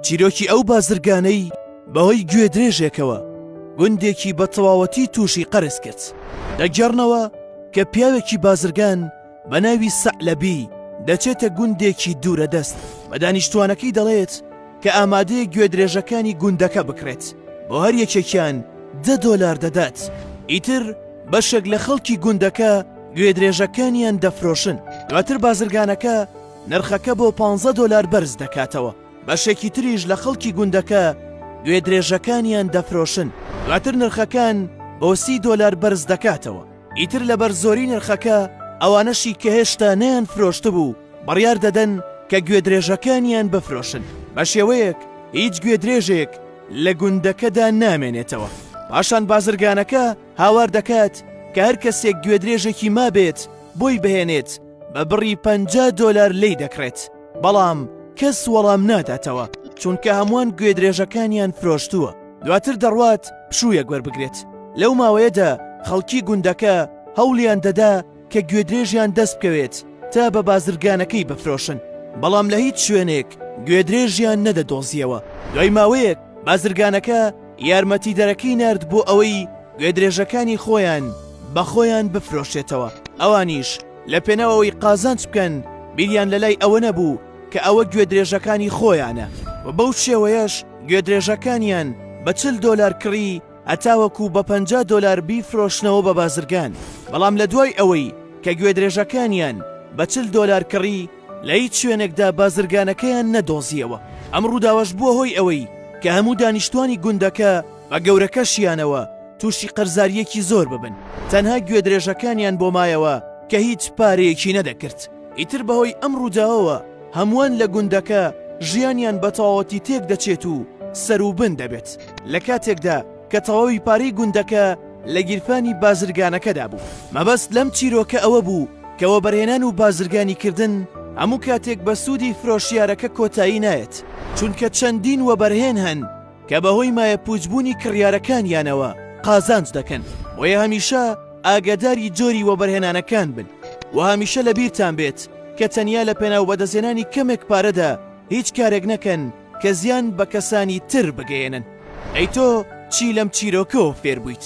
چیرۆکی ئەو بازرگانەی بەهۆی گوێدرێژێکەوە گوندێکی بە تەواوەتی تووشی قەرز کرد دەگەڕنەوە کە پیاوێکی بازرگان بە ناوی سەعلەبی دەچێتە گوندێکی دوورە دەست بە دانیشتوانەکەی دەڵێت کە ئامادەیە گوێدرێژەکانی گوندەکە بکرێت بۆ هەر یەکێکیان دە دۆلار دەدات ئیتر بەشێک لە خەڵکی گوندەکە گوێدرێژەکانیان دەفرۆشن دواتر بازرگانەکە نرخەکە بۆ پانزە دۆلار بەرز دەکاتەوە، بەشێکی تریش لە خەڵکی گوندەکە گوێدرێژەکانیان دەفرۆشن، دواتر نرخەکان بۆ سی دۆلار بەرز دەکاتەوە، ئیتر لەبەر زۆری نرخەکە ئەوانەشی کە هێشتا نەیانفرۆشتبوو بڕیار دەدەن کە گوێدرێژەکانیان بفرۆشن، بە شێوەیەک هیچ گوێدرێژێک لە گوندەکەدا نامێنێتەوە، پاشان بازرگانەکە هاوار دەکات کە هەر کەسێک گوێدرێژێکی مابێت بۆی بهێنێت، بە بڕی پەنجا دۆلار لێی دەکڕێت بەڵام کەس وەڵام ناداتەوە چونکە هەمووان گوێدرێژەکانیان فرۆشتووە دواتر دەڕوات پشوویەک وەربگرێت لەو ماوەیەدا خەڵکی گوندەکە هەوڵیان دەدا کە گوێدرێژیان دەست بکەوێت تا بە بازرگانەکەی بفرۆشن بەڵام لە هیچ شوێنێک گوێدرێژیان نەدەدۆزیەوە دوای ماوەیەک بازرگانەکە یارمەتیدەرەکەی نارد بۆ ئەوەی گوێدرێژەکانی خۆیان بە خۆیان بفرۆشێتەوە، ئەوانیش لە پێناو ئەوەی قازانج بکەن بیریان لە لای ئەوە نەبوو کە ئەوە گوێدرێژەکانی خۆیانە و بەو شێوەیەش گوێدرێژەکانیان بە چل دۆلار کڕی هەتاوەکو بە پەنجا دۆلار بیفرۆشنەوە بە بازرگان، بەڵام لە دوای ئەوەی کە گوێدرێژەکانیان بە چل دۆلار کڕی، لە هیچ شوێنێکدا بازرگانەکەیان نەدۆزییەوە، ئەم ڕووداوەش بووە هۆی ئەوەی کە هەموو دانیشتوانی گوندەکە بە گەورەکەشیانەوە تووشی قەرزارییەکی زۆر ببن، تەنها گوێدرێژەکانیان بۆ مایەوە کە هیچ پارەیەکی نەدەکرد. ئیتر بەهۆی ئەم ڕووداوەوە هەمووان لە گوندەکە ژیانیان بەتەواوەتی تێکدەچێت و سەروبن دەبێت، لە کاتێکدا، کە تەواوی پارەی گوندەکە لە گیرفانی بازرگانەکەدا بوو. مەبەست لەم چیرۆکە ئەوە بوو کە وەبەرهێنان و بازرگانیکردن هەموو کاتێک بە سوودی فرۆشیارەکە کۆتایی نایەت، چونکە چەندین وەبەرهێن هەن کە بەهۆی مایەپووچبوونی کڕیارەکانیانەوە قازانج دەکەن، بۆیە هەمیشە ئاگاداری جۆری وەبەرهێنانەکان بن و هەمیشە لەبیرتان بێت کە تەنیا لەپێناو بەدەستهێنانی کەمێک پارەدا هیچ کارێک نەکەن، کە زیان بە کەسانی تر بگەیەنن. ئەی تۆ چی لەم چیرۆکەوە فێر بوویت؟